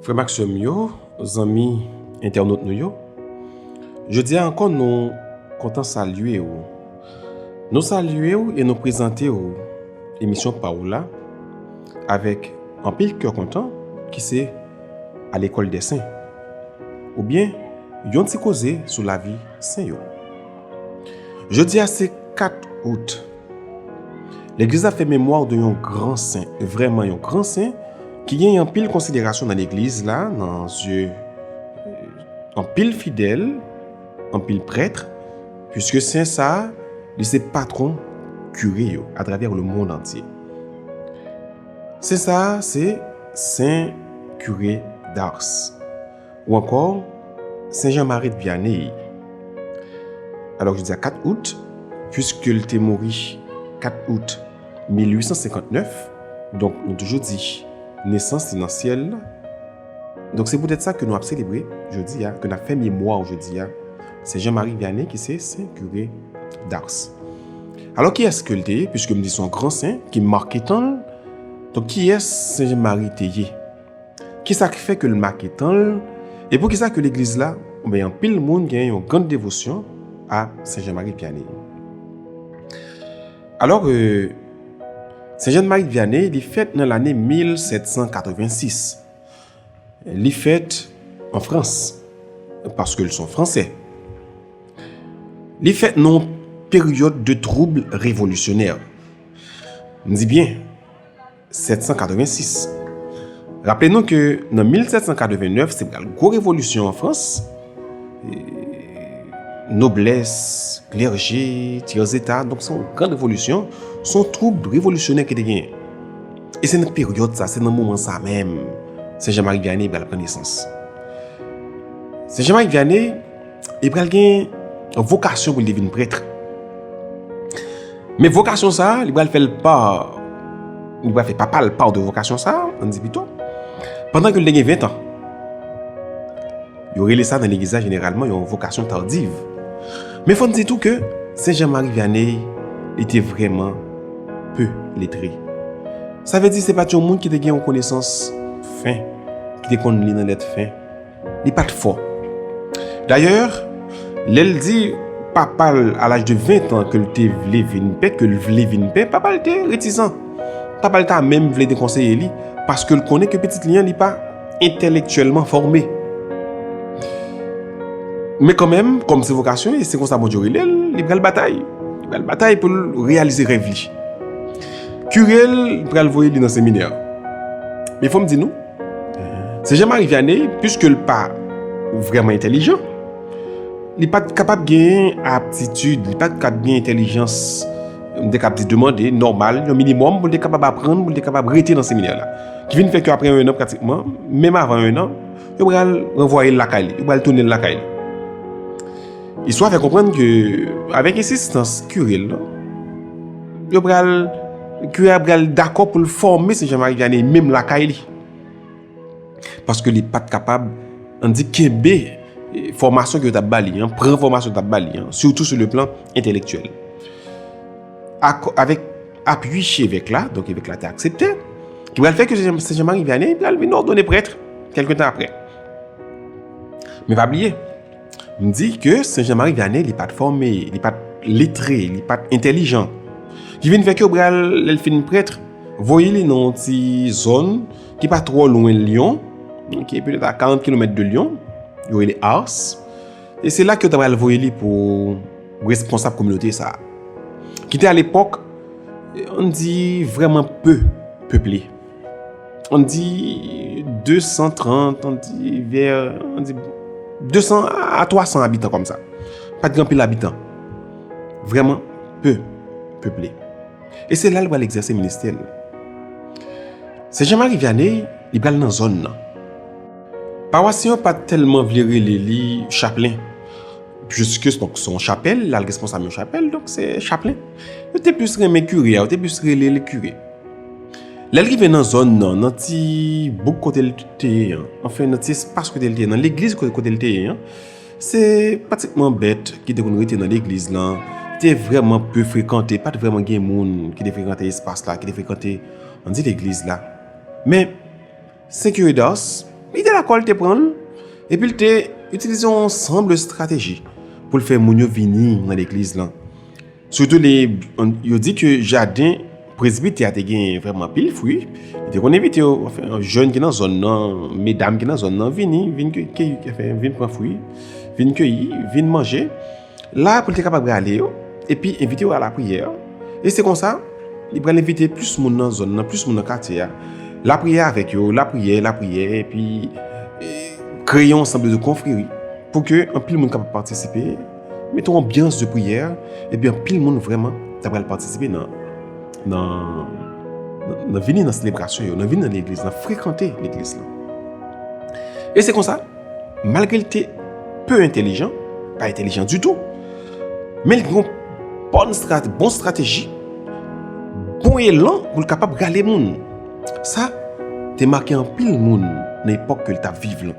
Frè m ak sè m yo, zanmi entènot nou yo, jodi a ankò nou kontan salye ou. Nou salye ou e nou prezante ou emisyon pa ou la avèk anpil kè kontan ki se A lekòl dè sen oubyen yon ti koze sou lavi sen yo. Jodi a se 4 out. Legliz la fè memwa de yon gran sen, vrèman yon gran sen, ki gen yon pil konsiderasyon nan legliz la, nan zye yon pil fidèl, yon pil prèt, pwiske sen sa, li se patron kire yo, atravè le moun antye. Sen sa, se sen kire Dars. Ou ankò, Sen Jan Marit Vyaney, alò jodi a 4 out, puiske l te mouri 4 out 1859, donk nou toujou di nesans li nan syèl la, donk se poutèt sa ke nou ap selebre jodi a, ke n ap fè memwa w jodi a, Sen Jan Mari Vyaney ki se Sen Kire Dars. Alò kiyès ke l te ye, puiske m di se yon gran sen ki make tan l, donk kiyès Sen Jan Mari te ye? Ki sa k fè ke l make tan l, e pou ki sa ke legliz la oubyen anpil moun gen yon gran devosyon a Sen Jan Marie Vianney? Alò, Sen Jan Marie Vianney li fèt nan lane 1786. Li fèt an Frans, paske l son Fransè. Li fèt nan yon peryòd de twoub revolisyonè. M di byen. 1786. Raple nou ke nan 1789 se pral gwo revolisyon an Frans, noblès, klèje, tyèzeta, donk se yon gran revolisyon, se yon twoub revolisyonè ki te genyen. E se nan peryòd sa, se nan moman sa menm, Sen Jan Mari Vyane pral pran nesans. Sen Jan Mari Vyane, Li pral gen vokasyon pou li te vin prèt. Men vokasyon sa, li pral fè l pa, li pral fè papa l pa de vokasyon sa, an di pito, pandan ke l te gen 20 an. Yo rele sa nan legliz la jeneralman yon vokasyon tardiv. Men fò n di tou ke Sen Jan Mari Vyaney li te vreman pe letre. Sa vle di se pa t yon moun ki te gen yon konesans fen, ki te konn li nan lèt fen. Li pa t fò. Dayè, lè l di papa l a laj de ventan ke l te vle vin pè, ke l vle vin pè, papa l te retizan. Papa l ta menm vle dekonseye li, paske l konnen ke pitit li an li pa entèlektyèlman fòme. Men kanmenm, kòm se vokasyon li, se konsa Bondye rele l, li pral batay. Li pral batay pou l reyalize rèv li. Kire l pral voye li nan seminè. Men fò m di nou. Se Jean-Marie Vianney, pwiske l pa vrèman entèlijan, li pa t kapab genyen aptitid, li pa t kab genyen entèlijans, m te kab di demande, nòmal, yon minimòm pou l te kapab aprann, pou l te kapab rete nan seminè la. Ki vin fè ke apre ennan pratikman, menm avan ennan, yo pral ranvwaye l lakay li, yo pral tounen l lakay li. Istwa fè konprann ke avèk ensistans kire l lan, Yo pral, kire a pral dakò pou l fòme se Jean Marie Vianney menm lakay li. Paske li pat kapab, an di kenbe fòmasyon ke yo tap ba li an, pran fòmasyon yo tap ba li an, sitou sou le plan entelektyèl. Ak, avèk apui chevèk la, donk evèk la te aksepte, ki pral fè ke se Jean Marie Vianney pral vin òdone prèt, kèlke tan aprè. Men pa bliye. M di ke Sen Jan Mari Vyane li pat fòme, li pat letre, li pat entèlijan. Ki vin fè ke yo pral, lè l fin prèt, voye li nan yon ti zòn ki pa twò lwen Lyon, ki petèt a 40 kilomèt de Lyon, yo rele Ars. E se la ke yo ta pral voye li pou responsab kominote sa a. Ki te a lepòk, an di vrèman pe peple. On di 230, on di ver, on di 200 a 300 abitan kom sa. Pat gen pil abitan. Vreman, peu, peuple. E se la li pral egzese ministè li. Se Jean Marie Vianney, li pral nan zon nan. Pawasyen yo pat telman vle rele li chaplen. Juske se donk son chapel, lal responsab yon chapel, donk se chaplen. Yo te plis renmen kire a, yo te plis rele li kire. Lè l rive nan zòn nan, nan ti bouk kote l te ye an, anfen nan ti espas kote l te ye an, nan legliz kote l te ye an, se pratikman bèt ki te konn rete nan legliz lan, te vrèman pe frekante, pa t vrèman gen moun ki te frekante espas la, ki te frekante, an di legliz la. Men, Sen Kiridas, li te dakò, li te pran l, epi l te itilize yon ansanm de estrateji pou l fè moun yo vini nan legliz lan. Sitou lè yo di ke jaden presbitè a te genyen vrèman anpil fwi, li te konn envite yo, anfen, jèn ki nan zòn nan, medam ki nan zòn nan, vini, vin keyi, anfen, vin pran fwi, vin keyi, vin manje. La pou li te kapab rale yo, epi envite yo a lapriyè. E se konsa, li pral envite plis moun nan zòn nan, plis moun nan katye a. Lapriyè avèk yo, lapriyè, lapriyè, epi kreye yon sanble de konfreri pou ke anpil moun kapab patisipe. Met yon anbyans de priyè, epi anpil moun vrèman ta pral patisipe nan, nan vini nan selebrasyon yo, nan vini nan legliz, nan frekante legliz lan. E se konsa, malgre l te pe entelijan, pa entelijan ditou, men l gen yon bon estrateji, bon elan pou l kapab rale moun. Sa te make anpil moun nan epòk ke l t ap viv lan.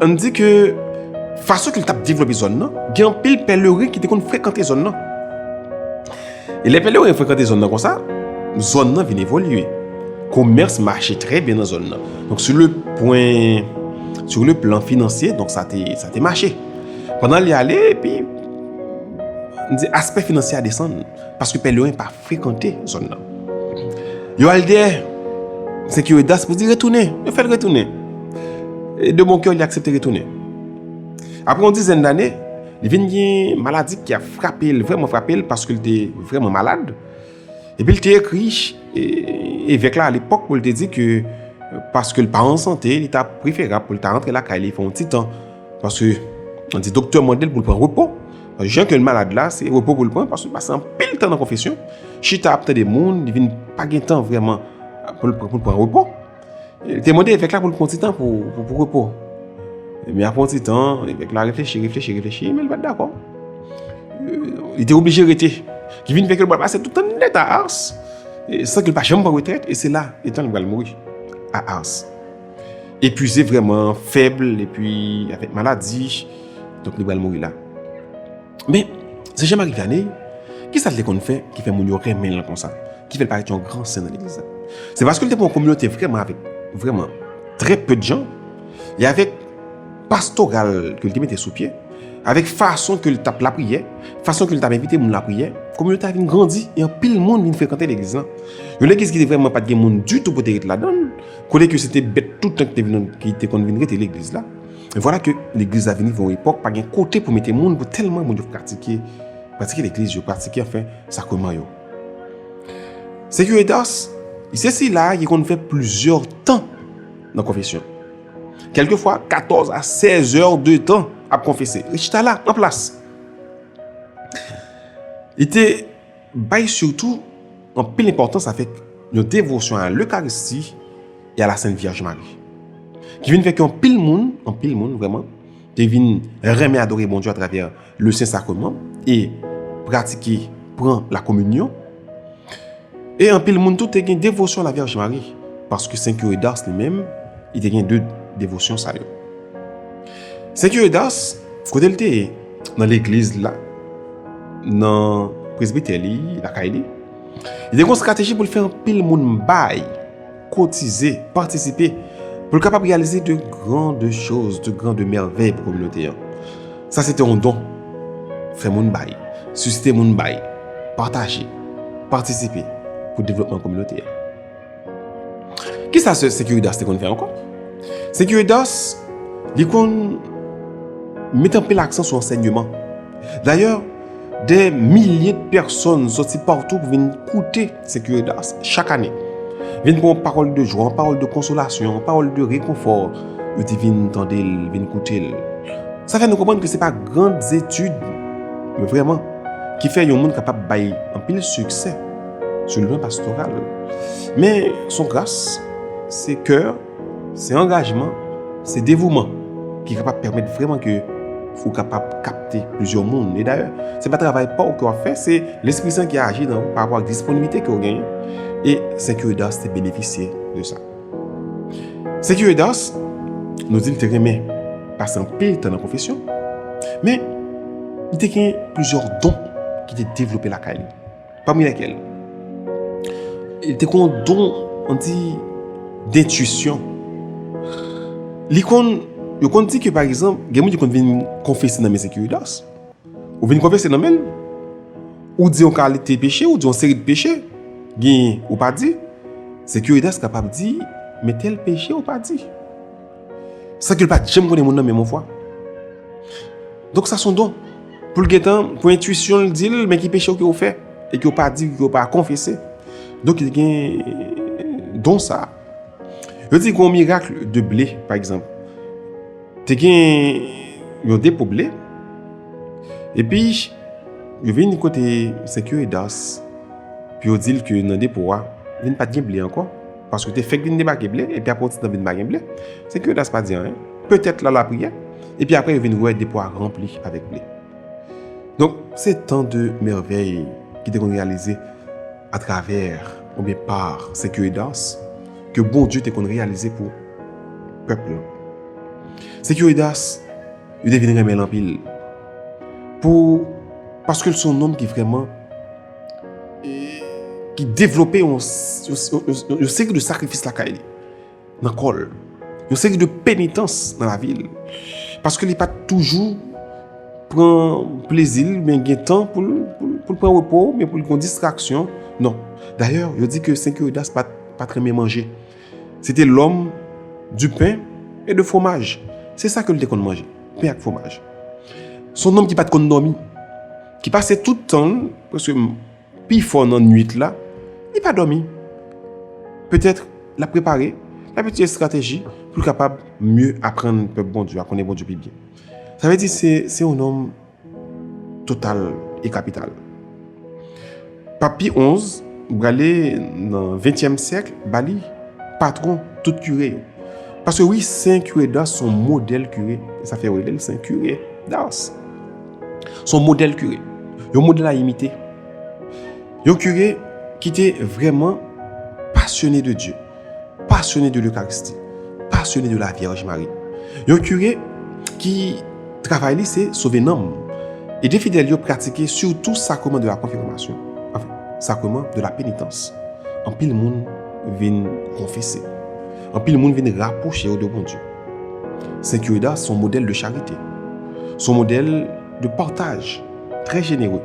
An di ke fason ke li tap devlope zòn nan, gen anpil pèlerin ki te konn frekante zòn nan. E lè pèlerin frekante zòn nan konsa, zòn nan vin evolye. Komès mache trè byen nan zòn nan. Donk sou le pwen, sou le plan finansye, donk sa te, sa te mache. Pandan li ale, epi, an di aspè finansye a desann. Paske pèlerin pa frekante zòn nan. Yo al dèyè Seki Wedas pou di retounen. Yo fè l retounen. E de bon kè li aksepte retounen. Apre yon dizèn dane, li vin gen maladi ki a frape l, vreman frape l, paske li te vreman malad. E pi li te ekri evèk la alepòk pou li te di ke paske li pa an sante, li ta preferab pou li ta rantre lakay li pou yon ti tan. Paske, an di doktè mande l pou l pran repo. Jan ke l malad la, se repo pou l pran, paske l pase an pil tan nan konfesyon. Chita ap tande moun, li vin pa gen tan vreman pou l pran repo. Li te mande evèk la pou l pran ti tan pou repo. E mi apon ti tan, evèk la reflechi, reflechi, reflechi, e mi l bat dako. Li te oblije rete. Ki vin fèk l bat pase toutan nèt a ars. San ke l pa chanm pran retret, e se la, etan l bal mouri a ars. epuize vreman, fèb, epi avèk maladi, donk li pral mouri la. Men, se Jean-Marie Vianney, ki sa l te konn fè ki fè moun yo renmen l konsa, ki fè l parèt yon gran sen nan legliz la? Se paske l te pran yon kominote vreman avèk, vreman, trè pè djan, e avèk pastoral ke l te mete sou pye, avèk fason ke l t ap lapriyè, fason ke l t ap envite moun lapriyè, kominote a vin grandi, e anpil moun vin frekante legliz la. Yon legliz ki te vreman pa t gen moun ditou pou te ret ladan l, Kote ke se te bèt tout tan ki te vin ki te konn vin rete legliz la. E vwala ke legliz la vin rive yon epòk pa gen kote pou mete moun pou tèlman moun yo pratike pratike legliz yo, pratike anfen sakreman yo. Se Curitas, li se sila a ki konn fè plizyè tan nan konfesyon. Kèlke fwa katòz a sèz è de tan ap konfese. Li chita la an plas. Li te Bay sitou anpil enpòtans avèk yon devosyon a Lekaristi e a la Sent Vyèj Mari, ki vin fè ke anpil moun, anpil moun vrèman, te vin renmen adore Bondye atravè Le Sen Sakreman e pratike pran La Kominyon. E anpil moun tou te gen devosyon a la Vyèj Mari, paske Sen Kire Dars li menm, li te gen de devosyon sa yo. Sen Kire Dars, kote li te ye? nan legliz la, nan presbitè li, lakay li. Li te gon strateji pou l fè anpil moun bay, kotize, patisipe, pou l kapab realize de gran de choz, de gran de mèvèy pou kominote an. Sa se te yon don. Fè moun bay, sisite moun bay, pataje, patisipe pou devlopman kominote an. Kisa sè Securidas te konn fè ankò? Securidas, li konn met anpil aksan sou ansègneman. Dayè, dè milye de pèsòn sòti patou pou vin koute Securidas chak ane. Vin pou yon pawòl de jwa, yon pawòl de konsolasyon, yon pawòl de rekonfò. Yo te vin tande l, vin koute l. Sa fè nou konprann ke se pa gran zetid, men vreman, ki fè yon moun kapab bay anpil siksè. sou lwen pastoral. Men, son gras, se kè, se angajman, se devouman ki kapab pèmèt vreman ke ou kapab kapte plizyè moun. E dayè, se pa travay pa ou ke w ap fè, se Lespri Sen ki aji nan ou pa rapò ak disponiblite ke ou genyen. E Sè Kiridas te benefisye de sa. Sè Kiridas, nou di l te renmen pase anpil tan nan konfesyon, men, li te gen plizyè don ki te devlope lakay li. Pami lèkèl, li te kon don, an di, dentuisyon. Li kon, yo kon di ke pa egzanp, gen moun ki kon vin konfese nan men Sekiridas. Ou vin konfese nan men l, ou di yon kalite peche, ou di yon seri de peche, gen, ou pa di, Sekiridas kapab di, men tèl peche ou pa di. San ke l pa janm konnen moun nan menm on fwa. Donk sa son don. Pou l gen tan, pou entwisyon l di l, men ki peche ou ke ou fè. E ke ou pa di, ke ou pa konfese. Donk li gen don sa. Yo di kon mirak de ble, pa egzanp. Te gen yon depo ble. E pi, yo vin yon kote Senkyo Edas. Pi yo di l ke nan depo a, vin pat gen ble ankon. Paske yo te fèk vin debake ble, epi apre yon ti tan vin pa gen ble. Senk Yodas pa di anyen. Petèt la lapriyè. Epi apre yo vin wè depo a ranpli avèk ble. Donk, se tan de mèvèy ki te konn reyalize atravè oubyen pa Senk Yodas ke Bondye te konn reyalize pou pèp li an. Senk Yodas, yo te vin renmen l anpil. Pou, paske l se yon nonm ki vrèman. ki devlope yon seri de sakrifis lakay li, nan kò l, yon seri de penitans nan lavi l, paske li pa toujou pran plezi l, men gen tan pou l pran repo, men pou l pran distraksyon, non. Dayè, yo di ke Sen Kiridas pa t renmen manje. Se te lòm di pen e de fwomaj. Se sa ke l te konn manje, pen ak fwomaj. Son nonm ki pa t konn dòmi. Ki pase tout tan l, prèske pi fò nan nuit la, li pa dòmi. Petèt, l ap prepare, l ap itilize estrateji pou l kapab mye aprann pèp Bondye a, konnen Bondye pi byen. Sa vle di se yon nonm total e kapital. Pap Pi xi, brale nan ventyèm syèk, ba li patwon tout kire yo. Paske wi Sen Kire Dars s on modèl kire, se sa fè yo rele l Sen Kire Dars. S on modèl kire, yon modèl a imite. Yon kire ki te vrèman pasyone de Dye. pasyone de Lekaristi, pasyone de la Vyèj Mari. Yon kire ki travay li se sove nanm. E de fidèl yo pratike sitou sakreman de la konfimasyon, anfen, sakreman de la penitans. Anpil moun vin konfese. Anpil moun vin rapwoche yo de Bondye. Sen Curida se yon modèl de charite. Se yon modèl de pataj. Très généreux.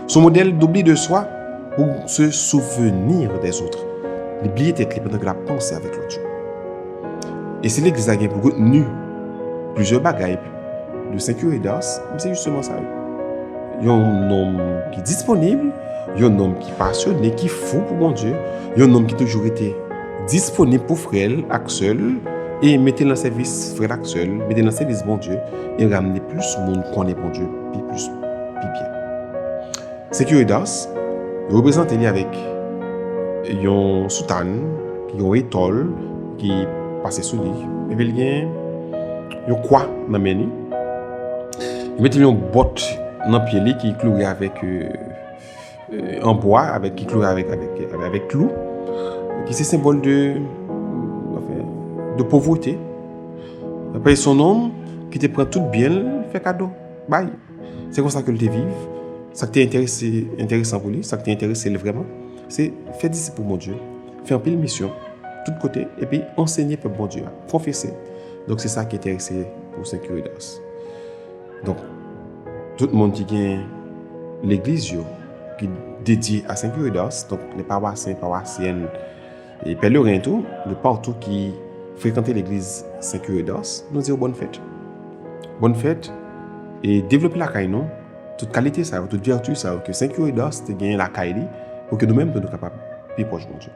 Son modèle d'oubli de soi pou se souvenir des autres. Li bliye tèt li pandan ke l'ap panse avèk lòt yo. E si legliz la gen pou retenu plizyè bagay de Sen Kire d'Ars, men se jisteman sa yo. Yon nonm ki disponib, yon nonm ki pasyone, ki fou pou Bondye, yon nonm ki toujou rete disponib pou frè l ak sè l, e mete l nan sèvis frè l ak sè l, mete l nan sèvis Bondye, e ramne plis moun konnen Bondye. pi plis pi byen. Securitas, yo reprezante li avèk yon soutane, yon etòl ki pase sou li, epi li gen yon kwa nan men li. Yo mete li yon bòt nan pye li ki kloure avèk. an bwa avèk ki klore avèk avèk klou ki se senbòl de de povwete apè son nom ki te pran tout byen fè kado bay se konsa ke l te viv sa k te enterese enteresan pou li sa k te enterese l vreman se fè disip pou Bondye fè anpil misyon tout kote epi ansegne pèp Bondye a pwofese donk se sa ki enterese pou Sen Kiridas Donk, tout moun ki gen legliz yo ki dedye a Sen Kire d'Ars, donk lè pawasyen, pawasyèn, e pèleren tou, de patou ki frekante legliz Sen Kire d'Ars, nou di yo bòn fèt. Bòn fèt, e devlope lakay nou, tout kalite sa yo, tout vèti sa yo ke Sen Kire d'Ars te genyen lakay li, pou ke nou menm tou nou kapab pi pwòch Bondye.